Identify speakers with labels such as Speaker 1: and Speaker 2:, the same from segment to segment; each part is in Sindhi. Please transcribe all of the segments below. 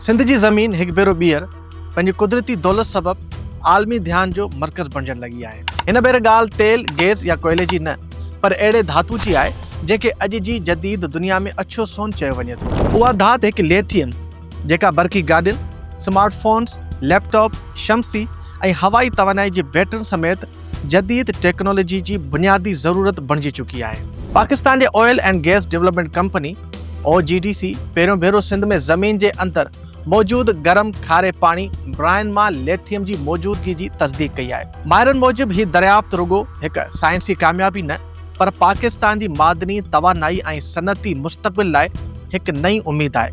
Speaker 1: سنڌ جي زمين هڪ ڀيرو ٻيهر پنهنجي قدرتي دولت سبب عالمي ڌيان جو مرڪز بڻجڻ لڳي آهي. هن ڀيري ڳالهه تيل، گيس يا ڪوئلي جي نه پر اهڙي ڌاتو جي آهي جنهن کي اڄ جي جديد دنيا ۾ اڇو سون چيو وڃي ٿو. اها ڌات هڪ ليٿيم جيڪا برقي گاڏين، سمارٽ فونز، ليپ ٽاپس، شمسي ۽ هوائي توانائي جي بيٽرين سميت جديد ٽيڪنالاجي جي بنيادي ضرورت بڻجي چڪي آهي. پاڪستان جي oil and gas development company, O G D C, پهريون ڀيرو سنڌ ۾ زمين جي اندر موجود گرم کاري پاڻي براين مان ليٿيم جي موجودگي جي تصديق ڪئي آهي. ماهرن موجب هي دريافت رڳو هڪ سائنسي ڪاميابي نه، پر پاڪستان جي معدني، توانائي ۽ صنعتي مستقبل لاء هڪ نئين اميد آهي.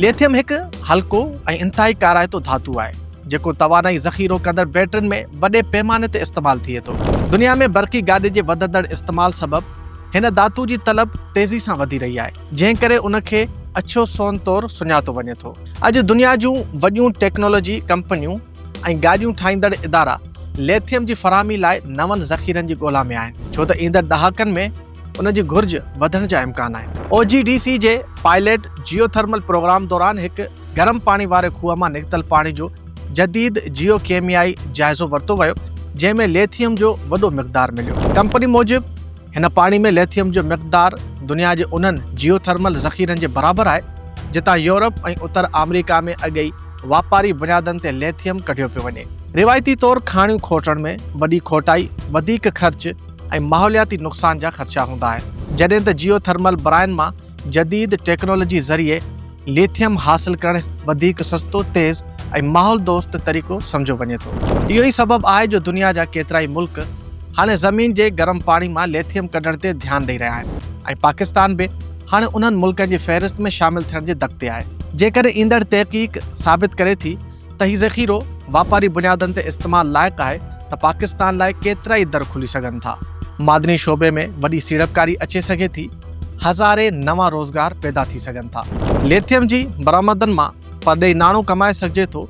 Speaker 1: ليٿيم هڪ هلڪو ۽ انتهائي ڪارائتو ڌاتو آهي، جيڪو توانائي ذخيرو ڪندڙ بيٽرين ۾ وڏي پيماني تي استعمال ٿئي ٿو. دنيا ۾ برقي گاڏي جي وڌندڙ استعمال سبب هن ڌاتو جي طلب تيزي سان وڌي رهي آهي، جنهن ڪري ان کي اڇو سون طور سڃاتو وڃي ٿو. اڄ دنيا جون وڏيون ٽيڪنالاجي ڪمپنيون ۽ گاڏيون ٺاهيندڙ ادارا ليٿيم جي فراهمي لاء نون ذخيرن جي ڳولا ۾ آهن ڇو ته ايندڙ ڏهاڪن ۾ ان جي گهرج وڌڻ جا امڪان آهن. او جي ڊي سي جي پائليٽ جيو ٿرمل پروگرام دوران هڪ گرم پاڻي واري کوهه مان نڪتل پاڻي جو جديد جيو ڪيميائي جائزو ورتو ويو جنهن ۾ ليٿيم جو وڏو مقدار مليو. ڪمپني موجب هن پاڻي ۾ ليٿيم جو مقدار دنيا جي انهن جيو ٿرمل ذخيرن جي برابر آهي، جتان يورپ ۽ اتر آمريڪا ۾ اڳي ئي واپاري بنيادن تي ليٿيم ڪڍيو پيو وڃي. روايتي طور کاڻيون کوٽڻ ۾ وڏي کوٽائي، وڌيڪ خرچ ۽ ماحولياتي نقصان جا خدشا هوندا آهن، جڏهن ته جيو ٿرمل براين مان جديد ٽيڪنالاجي ذريعي ليٿيم حاصل ڪرڻ وڌيڪ سستو، تيز ۽ ماحول دوست طريقو سمجهيو وڃي ٿو. اهو ئي سبب آهي جو دنيا جا ڪيترائي ملڪ هاڻي زمين جي گرم پاڻي مان ليٿيم ڪڍڻ تي ڌيان ڏئي رهيا آهن ۽ پاڪستان به هاڻي انهن ملڪن جي فهرست ۾ شامل ٿيڻ جي دڪ تي آهي. جيڪڏهن ايندڙ تحقيق ثابت ڪري ٿي ته هي ذخيرو واپاري بنيادن تي استعمال لائق آهي ته پاڪستان لاء ڪيترائي در کلي سگهن ٿا. معدني شعبي ۾ وڏي سيڙپڪاري اچي سگهي ٿي، هزارين نوان روزگار پيدا ٿي سگهن ٿا. ليٿيم جي برآمدن مان پرڏيهي ناڻو ڪمائي سگهجي ٿو،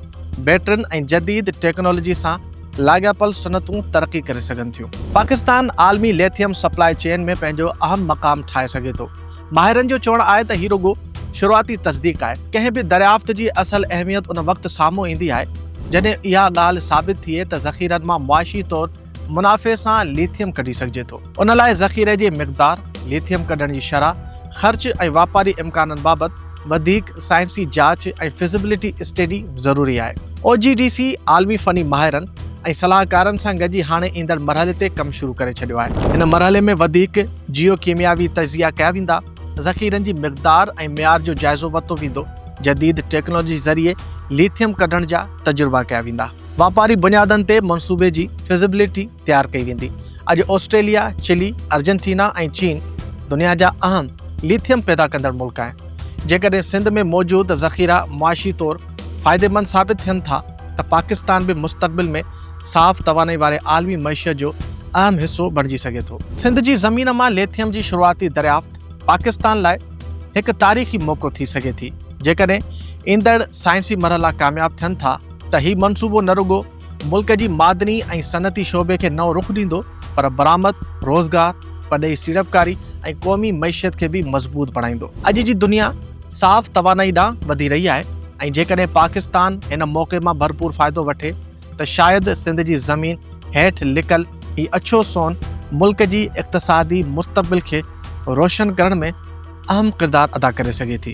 Speaker 1: بيٽرين ۽ جديد ٽيڪنالاجي سان لاڳاپيل صنعتون ترقي ڪري سگهن ٿيون. پاڪستان عالمي ليٿيم سپلاء چين ۾ پنهنجو اهم مقام ٺاهي سگهي ٿو، ماهرن جو چوڻ آهي ته هي رڳو شروعاتي تصديق آهي، ڪنهن به دريافت جي اصل اهميت ان وقت سامهون ايندي آهي جڏهن اها ڳالهه ثابت ٿئي ته ذخيرن مان معاشي طور منافعي سان ليٿيم ڪڍي سگهجي ٿو. ان لاء ذخيري جي مقدار، ليٿيم ڪڍڻ جي شرح، خرچ ۽ واپاري امڪانن بابت وڌيڪ سائنسي جاچ ۽ فزيبلٽي اسٽيڊي ضروري آهي. او جي ڊي سي عالمي فني ماهرن ۽ صلاحڪارن سان گڏجي هاڻي ايندڙ مرحلي تي ڪم شروع ڪري ڇڏيو آهي. هن مرحلي ۾ وڌيڪ جيو ڪيمياوي تجزيا ڪيا ويندا، ذخيرن جي مقدار ۽ معيار جو جائزو ورتو ويندو، جديد ٽيڪنالاجي ذريعي ليٿيم ڪڍڻ جا تجربا ڪيا ويندا. واپاري بنيادن تي منصوبي جي فزيبلٽي تيار ڪئي ويندي. اڄ آسٽريليا، چلي، ارجنٽينا ۽ چين دنيا جا اهم ليٿيم پيدا ڪندڙ ملڪ آهن. جيڪڏهن سنڌ ۾ موجود ذخيرا معاشي طور فائديمند ثابت ٿين ٿا ته پاڪستان به مستقبل ۾ صاف توانائي واري عالمي معيشت جو اهم حصو بڻجي سگهي ٿو. سنڌ جي زمين مان ليٿيم جي شروعاتي دريافت پاڪستان لاء هڪ تاريخي موقعو ٿي سگهي ٿي. جيڪڏهن ايندڙ سائنسي مرحلا ڪامياب ٿين ٿا ته هي منصوبو نه رڳو ملڪ جي معدني ۽ صنعتي شعبي کي نئون رخ ڏيندو پر برآمد، روزگار، پرڏيهي سيڙپڪاري ۽ قومي معيشت کي به مضبوط بڻائيندو. اڄ جي دنيا صاف توانائي ڏانهن وڌي رهي آهي ۽ جيڪڏهن پاڪستان هن موقعي مان ڀرپور فائدو وٺي ته شايد سنڌ جي زمين هيٺ لڪل هي اڇو سون ملڪ جي اقتصادي مستقبل کي روشن ڪرڻ ۾ اهم ڪردار ادا ڪري سگهي ٿي.